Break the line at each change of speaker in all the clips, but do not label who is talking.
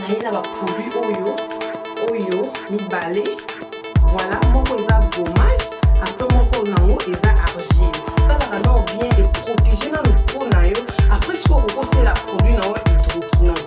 naye na baproduit oyo oyo mibale voilà moko eza gommage apres moko nango eza argile talaka nao bien eprotege nano mpo na yo apres soki okokosela produit na yo hydroquinone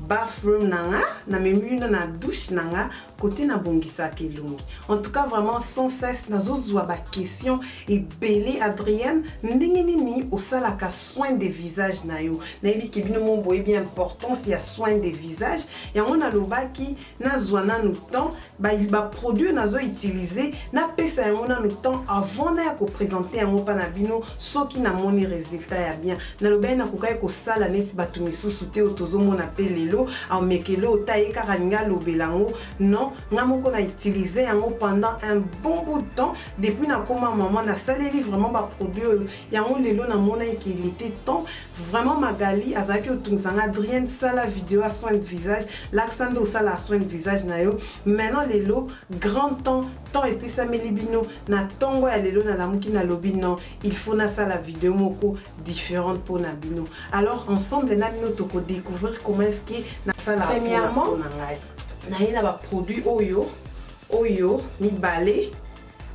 bathroom na nga na memi bino na douche na nga kote na bongisaka elongi en tout cas vraiment sans cesse nazozwa baquestion ebele adrienne ndenge nini osalaka soin de visage na yo nayebi ke bino mo boyebi importance ya soin de visage yango nalobaki nazwa nanu temps ba ba produits nazo utiliser napesa yango nanu temps avant naya ko presenter yango pa na bino soki namoni resultat ya bien nalobaki nakokaki kosala neti bato misusu te oyo tozomona pe lelo amekele oyo ta ye kaka alingi alobela yango non nga moko na utiliser yango pendant un bon bout de temps depuis nakoma maman nasaleli vraiment ba produits oyo yango lelo namonaki ke il était temps vraiment magali azalaki otungisa nga adrienne sala video ya soin de visage lakisa nde osalaka soin de visage na yo maintenant lelo grand temps temps epesameli bino na ntongo ya lelo nalamuki nalobi non il faut nasala video moko différente mpo na bino alors ensemble na bino tokodécouvrir comment est ce que nasala premièrement na ye na baproduit oyo oyo mibale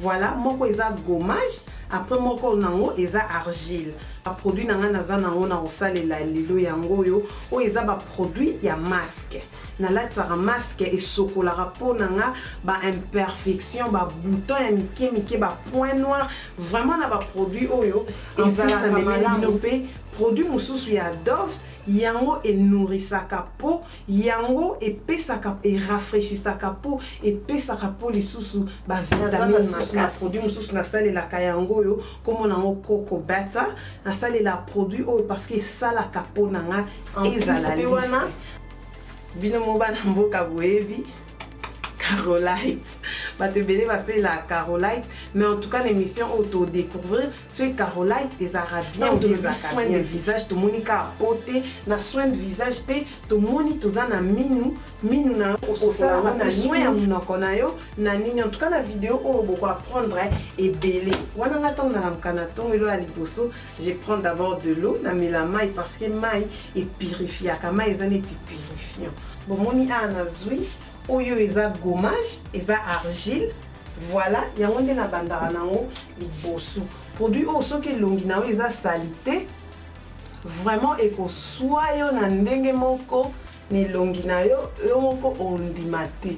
Voilà moko eza gommage après moko nango eza argile ba produit na ngai naza nango na kosalela lelo yango oyo oyo eza ba produit ya masque nalatisaka masque esokolaka mpo na nga ba imperfection ba bouton ya mike mike ba point noir vraiment na ba produit oyo ezalaka malamu mpe produit mosusu ya dove yango enourrisaka mpo Yango epesaka e rafraichisaka po epesaka po lisusu ba vitamine makasi. Naza na produit mosusu nasalelaka yango oyo kombo nango coco butter nasalela produit oyo parce que esalaka po na nga ezala lisse. Bino moko bana mboka boyebi. Carolite. Bato ebele basalela Carolite, mais en tout cas l'émission oyo to découvrir soki Carolite ezalaka bien ou bien ezalaka soin de visage tomoni kaka po te na soin de visage mpe tomoni toza na minu minu na osalaka na soin ya monoko na yo na nini en tout cas na video oyo boko apprendre ebele wana nga ntango nalamuka na ntongo elo ya liboso Je prends d'abord de l'eau na mela mayi parce que mayi e purifiaka mayi eza neti purifiant bomoni awa nazwi oyo eza gommage eza argile voilà yango nde nabandaka nango liboso produit oyo soki elongi na yo eza salite vraiment ekoswa yo na ndenge moko na elongi na yo yo moko ondima te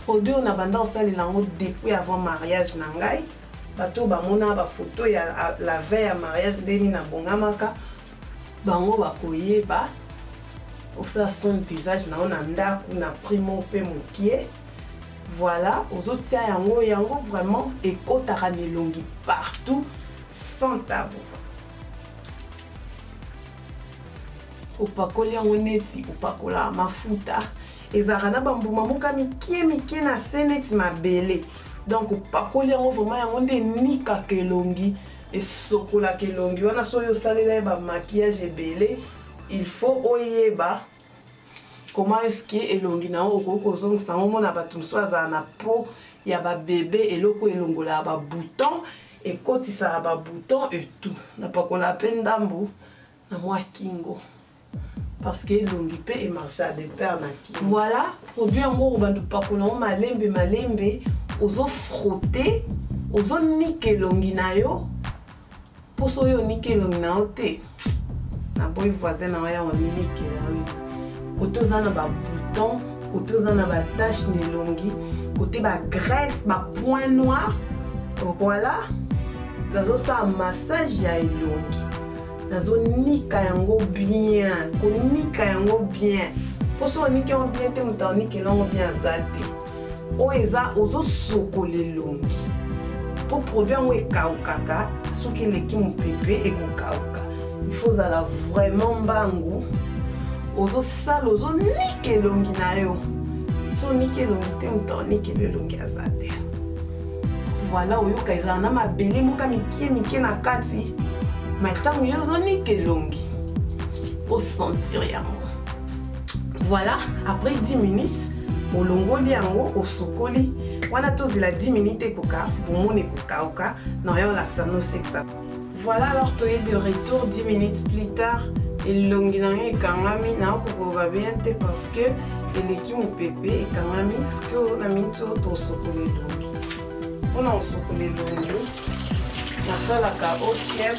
produit oyo nabanda kosalela yango depuis avant mariage na ngai Bato oyo bamona ba photo ya la veille ya mariage ndenge nini abongamaka, bango bakoyeba osala son visage na yo na ndako na prix moko mpe mokie voilà ozotia yango yango vraiment ekotaka na elongi partout sans tabu opakoli yango neti opakolaka mafuta ezalaka na bambuma moka mikie mikie na se neti mabele Donc opakoli yango vraiment yango nde enikaka elongi esokolaka elongi wana soki osalela ye ba maquillage ebele il faut oyeba comment est-ce que elongi na yango okoki kozongisa yango omona bato mosusu azala na po ya babebe eloko elongolaka babouton ekotisaka babouton etout napakolaka mpe ndambo na mwa kingo parce que elongi mpe e marcha de pair na kingo voilà produit yango obanda opakola yango malembe malembe ozo frotte ozo nika elongi na yo mpo soki oniki elongi na yo te naboyi voisin na yo ya oniki na yo kote oza na babouton kote oza na batache na elongi kote bagrèce bapoint noir voilà nazosala massage ya elongi nazo nika yango bien konika yango bien mpo soki oniki yango bien te moto aonikela yango bien aza te oyo eza ozosokola elongi mpo produit yango ekaukaka soki eleki mopepe ekokauka ifo ozala vraiment mbangu ozosala ozonika elongi na yo so oniki elongi te moto aonikela elongi aza te Voilà, oyoka ezala na mabele moka mikie mikie na kati mai ntango yo ozonika elongi osentir yango voilà après 10 minutes olongoli yango osukoli wana tozela 10 minutes ekoka bomoni ekokauka na yo olakisa nosekisa Voilà alors tu es de retour 10 minutes plus tard elongi na ngai ekangami nayoki koloba bien te parce que eleki mopepe ekangami sikoyo na miniti oyo tosokola elongi mpona kosokola elongi nasalaka otiep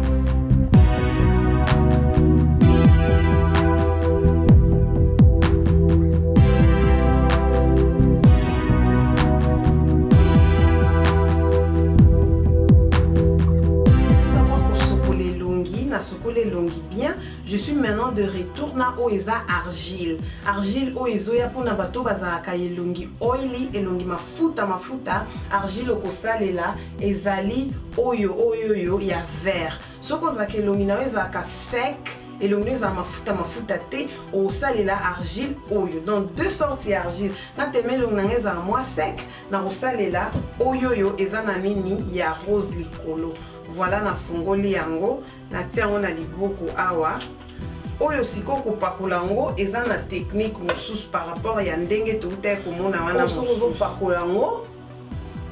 je suis maintenant de retour na oyo eza argile argile oyo ezoya mpona bato bazalaka elongi oily elongi mafuta mafuta argile okosalela Ezali oyo oyo oyo ya vert. Soki ozalaka elongi na yo ezalaka sec, elongi na yo ezala mafuta mafuta te, okosalela argile oyo. Donc deux sortes ya argile. Nga tellement elongi na nga ezala mwa sec, nakosalela oyo oyo eza na nini? Ya rose likolo. Voilà nafungoli yango, natie yango na liboko awa. oyo sikoyo kopakola yango eza na technique mosusu par rapport ya ndenge toutaki komona wana mosusu ozopakola yango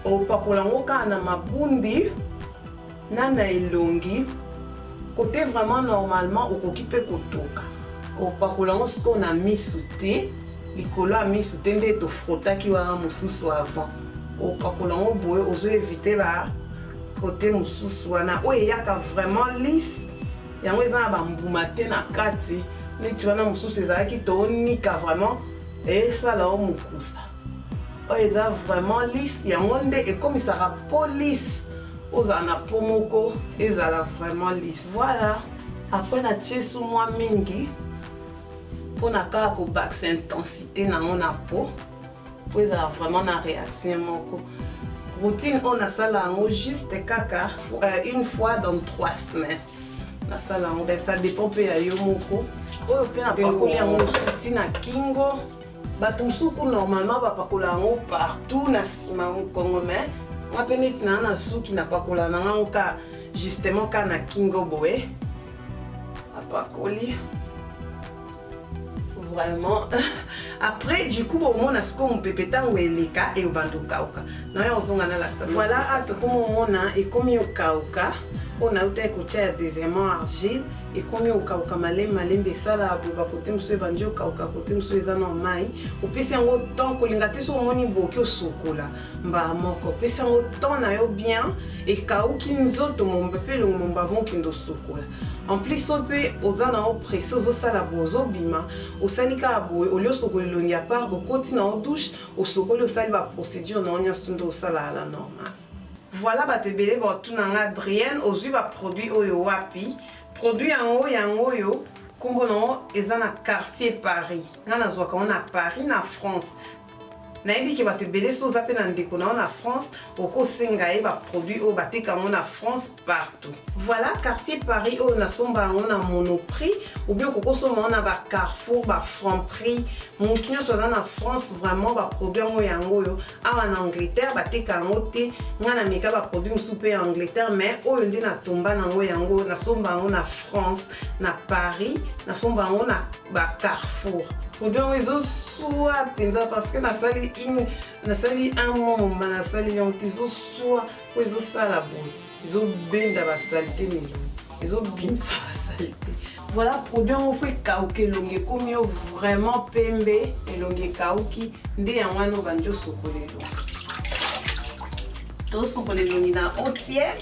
opakola yango kaka na mabundi na na elongi kote vraiment normalement okoki mpe kotoka opakola yango sikoyo na misu te likolo ya misu te nde tofrotaki wana mosusu avant opakola yango boye ozo evite ba kote mosusu wana oyo eyaka vraiment lise yango eza na bambuma te na kati neti wana mosusu ezalaki tonika vraiment esala o mokusa oyo eza vraiment liste yango nde ekomisaka police ozala na po moko ezala vraiment liste voilà apres na tie su mwa mingi mpona kaka kobakisa intensité na yango na po po ezala vraiment na réaction moko routine oyo nasala yango juste kaka euh, une fois dans trois semaines nasala yango ben ça dépend mpe ya yo moko oyo mpe napakoli yango suti na kingo Bato mosusu ku normalement bapakola yango partout na nsima ya mokongo me nga mpe neti naa na suki napakola na ngango ka justement ka na kingo boye apakoli vraiment après du coup bomona sikoyo mopepe ntango eleka eyobanda okauka nayo ozonga nalakisa voilà a tokomomona ekomi okauka oyo nautaki kotya ya deuxièmement argile ekomi okauka malembe malembe esala boba kote mosusu ebandi okauka kote mosusu eza na mai opesi yango temps kolinga te soki omoni boki osokola mbala moko opesi yango temps na yo bien ekauki nzoto momba mpe elongo momba avant okende osokola en plus so mpe oza na yo presse ozosala boye ozobima osali kaka boye olie osokoli elongi ya part okoti na yo douche osokoli osali baprocédure na yo nyonso to nde osalaka na normal Voilà batu ebele ba otuna nga Adrienne ozui ba produit oyo wapi? Produit yango yango oyo kombo nango eza na quartier Paris nga nazuaka yango na Paris na France nayebi ke batu ebele soki oza pe na ndeko nayo na France okosenga ye ba produit oyo bateka yango na France partout. Voilà quartier Paris oyo nasomba yango na monoprix ou bien okoki osomba yango na ba carrefour ba franc prix motu nyonso aza na france vraiment baproduit yango yango oyo awa na angleterre bateka yango te ngai nameka baproduit mosusu mpe ya angleterre mais oyo nde natomba nango yango nasomba yango na france na paris nasomba yango na ba carrefour produit yango ezosua mpenza parce que nasali nasali un mois moma nasali yango te ezosua oyo ezosala boye ezobenda basalite milimo ezobimisa basalite voilà produit yango fo ekauka elongi ekomi yo vraiment pembe elongi ekauki nde yango wana obandi osokola elongi tosokola elongi na otiere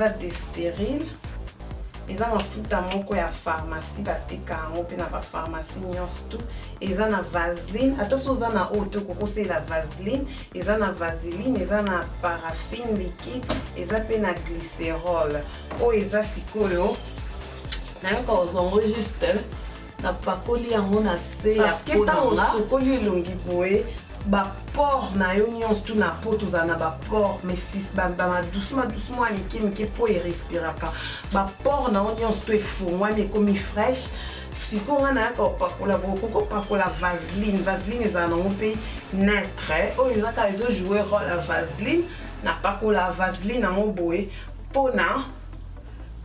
eza desperine eza mafuta moko ya pharmacie bateka yango mpe na bapharmacie nyonso tu eza na vaseline ata so oza na oyo te okokosela vaseline eza na vaseline eza na paraffine liquide eza mpe na glycerole oyo eza sikoyo nayoka ozwa yango juste napakoli yango na se ya parceke po na ntango nga. osokoli elongi boye baport na yo nyonso tu na po tozala na baport madusu madusu mwa mike mike po erespiraka baport na yo nyonso to efongwami ekomi fraîche sikoyo ngai nayaka opakola boye okoki opakola vaseline vaseline ezala nango mpe neutre oyo ezaka ezojoue role ya vaseline napakola vaseline yango boye mpo na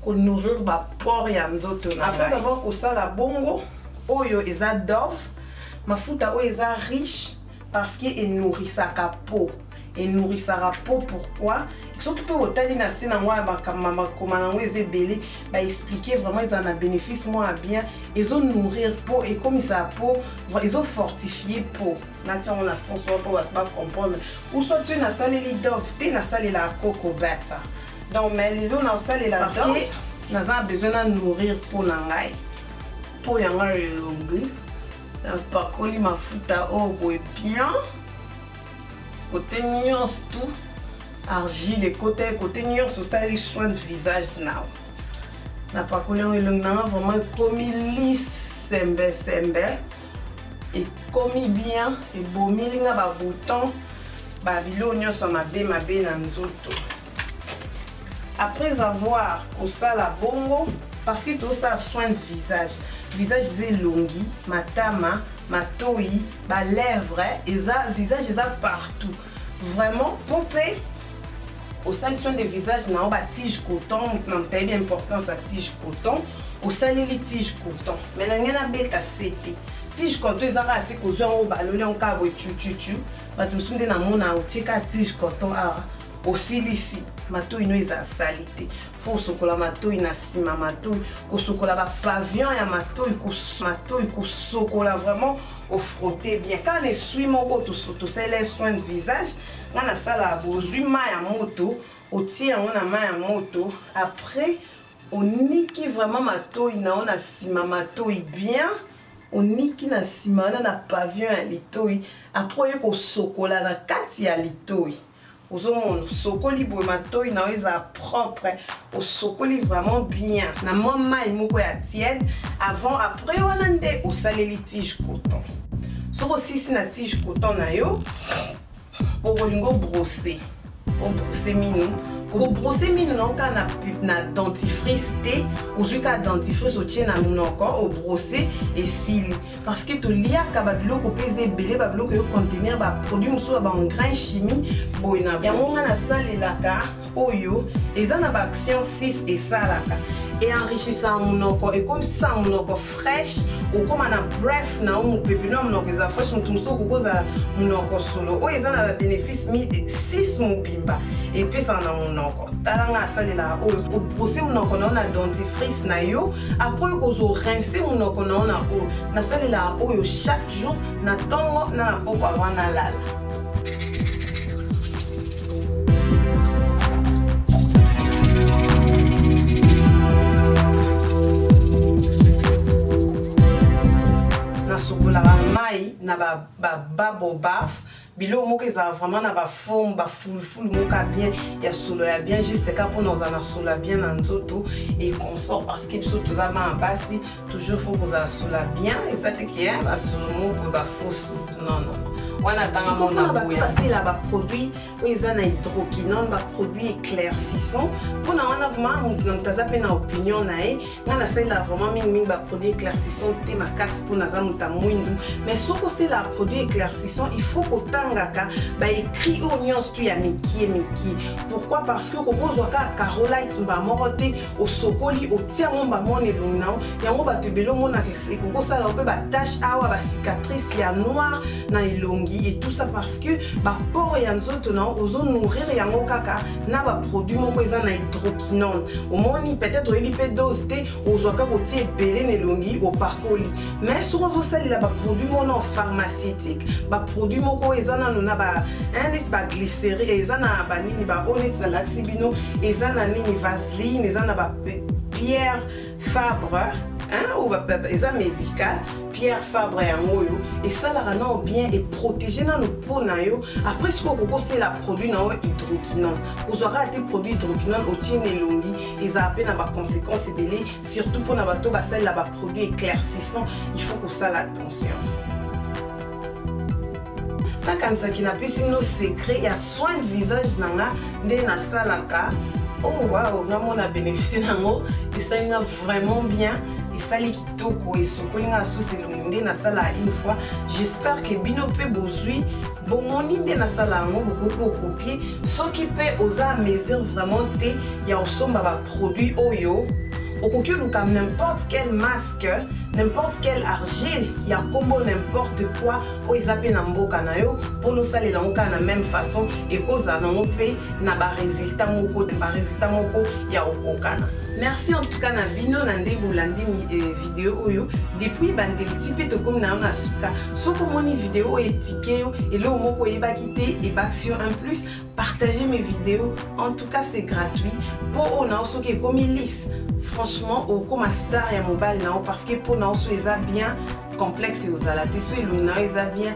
ko nourrir ba pores ya nzoto na ngai. Après avoir kosala bongo, oyo eza Dove, mafuta oyo eza riche parce que e nourrissaka peau. E nourrissaka peau pourquoi? Soki pe otali na se nango ya makambo bakoma nango eza ebele, ba expliquer vraiment ezala na benefice moko ya bien, ezo nourrir peau, ekomisaka peau, ezo fortifier peau. Natia yango na sens wana po batu ba comprendre. Ou soit soki nasaleli Dove te, nasalelaka Coco Butter. donc mais lelo naosalela Parce te que- naza na besoin na nourrir mpo na ngai mpo ya ngai elongi napakoli mafuta oyo boye bien kote nyonso tu argile ekota ye kote nyonso osali soin de visage nao napakoli yango elongi na ngai vraiment ekomi lisembesembe ekomi bien ebomili nga ba bouton ba biloko nyonso mabe mabe na nzoto après avoir kosala bongo parce que tosala soin de visage visage eza elongi matama matoi balèvre eza visage eza partout Vraiment, Pope, au sein de son de visage, na ba tige coton, na taille d'importance à tige coton, au sein de tige coton. Mais na ngena beta sete. Tige coton ezaka ate ko zwa o balole en ka bo chu chu chu. Ba to sunde na mona o tika tige coton a aussi lisi. Mato ino eza salite. mpo osokola matoi na nsima matoi kosokola bapavion ya matoi matoi kosokola vraiment ofrote bien kaka na eswi moko tosalela ye soin de visage nga nasalaka bozwi mai ya moto otie yango na mai ya moto après oniki vraiment matoi na yo na nsima matoi bien oniki na nsima wana na pavion ya litoi après oye kosokola na kati ya litoi Ozomona osokoli boye matoyi na yo ezala propre, osokoli vraiment bien na mwa mai moko ya tiède avant après wana nde osaleli tige coton. Soki osilisi na tige coton na yo, okolinga obrose obrose minu kobrose minu na yo kaka na, na dentifrice te, ozwi kaka dentifrice otie na monoko obrose esili. parce que toliaka babiloko mpe eza ebele babiloko eyo contenir baproduit mosusu ya baengrin chimie boye na yango ngai nasalelaka oyo eza na baaction 6 esalaka enrichissant monoko ekomisa monoko fraîche okoma na bref na yo mopepe na monoko eza fraîche moto mosusu okoki kozala monoko solo oyo eza na babénéfice 6 mobimba epesaka na monoko tala nga asalelaka oyo obrose monoko na yo na dentifrice na yo apres oyo kozwa orince monoko na yo na oyo nasalelaka oyo chaque jour na ntongo na na pokwa wana lala nasukolaka mai na bababobafe biloko moko ezala vraiment na baforme bafulufulu moko ya bien ya solo ya bien juste ka mpona ozala na solo ya bien na nzoto e consort parce que biso toza bana basi toujours faut kozala solo ya bien eza te ke basolo moko boye bafosu non non wana atanga mona boya basela baproduit oyo eza na hydroquinone baproduit éclaircissant mpona wana vraiment moto na moto aza mpe na opinion na ye nga nasalela vraiment mingimingi baproduit éclaircissant te makasi mpo naza moto ya mwindu mais soki osela produit éclaircissant il faut kotangaka baécrit oyo nyonso tu ya mikie mikie pourquoi parce que kokozwa kaka carolite mba moko te osokoli otia yango mba moko na elongi na yo yango bato ebele omonaka ekokosala yo mpe batache awa bacicatrice ya noir na elongi et tout ça parce que bapore ya nzoto na yo ozo nourrir yango kaka na baproduit moko eza na hydro Non, omoni peut-être oyebi mpe dose te ozwaka kotia ebele na elongi opakoli mais soki ozosalela baproduit mona pharmaceutique baproduit moko eza nano na neti baglyceri eza na banini baoyo neti nalakisi bino eza na nini vaseline eza na bapierre Fabre hein, ou ba, ba, eza médical pierre fabre yango oyo esalaka nao bien eprotege nano po na yo après soki okoki osala produit na yo hydroquinone ozwaka ate produit hydroquinone otie na elongi ezala mpe na baconséquence ebele surtout mpo na bato basalela baproduit éclaircissant il faut kosala attention nakanisaki napesi bino secret ya soin de visage na nga nde nasalaka oh wow namona bénéficie nango esali nga vraiment bien esali kitoko esokoli nga susu elongi nde nasala une fois j'espère que bino mpe bozwi bomoni nde nasala yango bokoki kokopie soki mpe oza a mesure vraiment te ya kosomba baproduit oyo okoki oluka n'importe quelle masse que n'importe quelle argile ya kombo n'importe quoi oyo eza mpe na mboka na yo mpona osalela yango kaka na même façon ekozala nango mpe na baresultat moko baresultat moko ya kokokana merci en tout cas na bino na nde bolandi euh, video oyo depuis bandeli ti mpe tokomi na yo na suka soki omoni video oyo etike yo eloko moko oyebaki te ebakisi yo un plus partager mes videos en tout cas c'est gratuit po oyo na yo soki ekomi lise franchement okoma star ya mobali na yo parce que mpo na yo so eza bien complexe ozala te so elongi na yo eza bien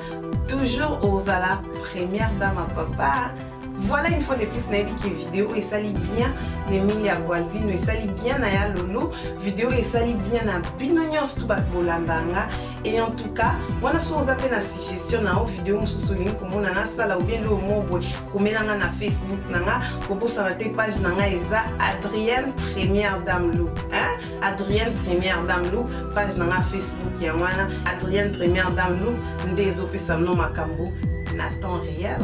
toujours ozala première dame ya papa voilà une fois de plus nayebi ke video oyo esali bien na emili ya gualdino esali bien na ya lolo video oyo esali bien na bino nyonso tu bato bolandanga Et en tout cas, wana soki oza mpe na suggestion na yo video mosusu olingi komona nasala obie nde omobwe komela nga na facebook na nga kobosana te page na nga eza adrienne première dame lou hein? adrienne première dame lou page na nga facebook yango wana adrienne première dame lou nde ezopesa bino makambo na temps réel